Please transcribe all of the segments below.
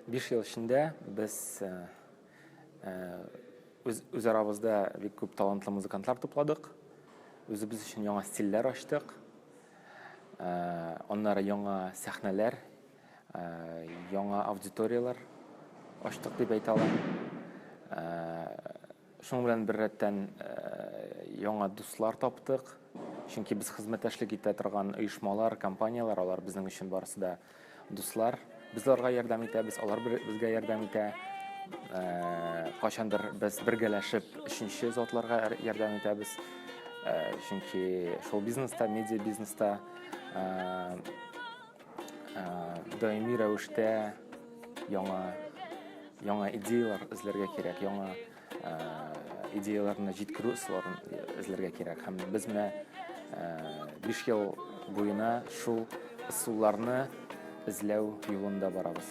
Биш ел эчендә без үзарабызда бик күп талантлы музыкантлар тупладык. Үзебез өчен яңа стильләр ачтык. Аннары яңа сәхнәләр, яңа аудиторияләр ачтык дип әйтә алам. Шуның белән беррәттән, яңа дуслар таптык. Чөнки без хезмәттәшлек итә торган оешмалар, компанияләр, алар безнең өчен барысы да дуслар. Без аларга ярдәм итәбез, алар безгә ярдәм итә. Кайчандыр без бергәләшеп өченче затларга ярдәм итәбез. Чөнки шоу-бизнеста, медиабизнеста даими рәвештә яңа яңа идеялар эзләргә кирәк яңа идеяларны җиткерү ысулларын эзләргә кирәк һәм без менә биш ел буена шул ысулларны эзләү юлында барабыз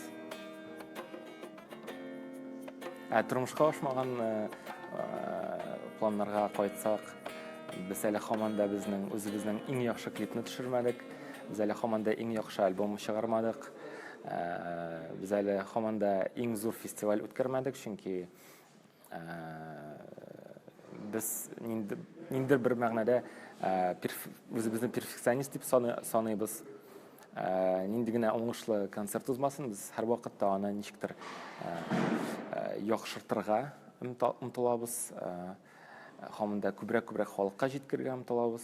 ә тормышка ашмаган планнарга кайтсак без әле һаман да безнең үзебезнең иң яхшы клипны төшермәдек Без әле һаман да иң яхшы альбом чыгармадык. Ә, без әле һаман да иң зур фестиваль үткәрмәдек, чөнки ә, без ниндер, ниндер бер мәгънәдә үзебезне перфекционист дип саныйбыз. Ә, нинди генә уңышлы концерт узмасын, без һәрвакытта аны ничектер яхшыртырга омтылабыз. Һаман да күбрәк-күбрәк халыкка җиткергән омтылабыз.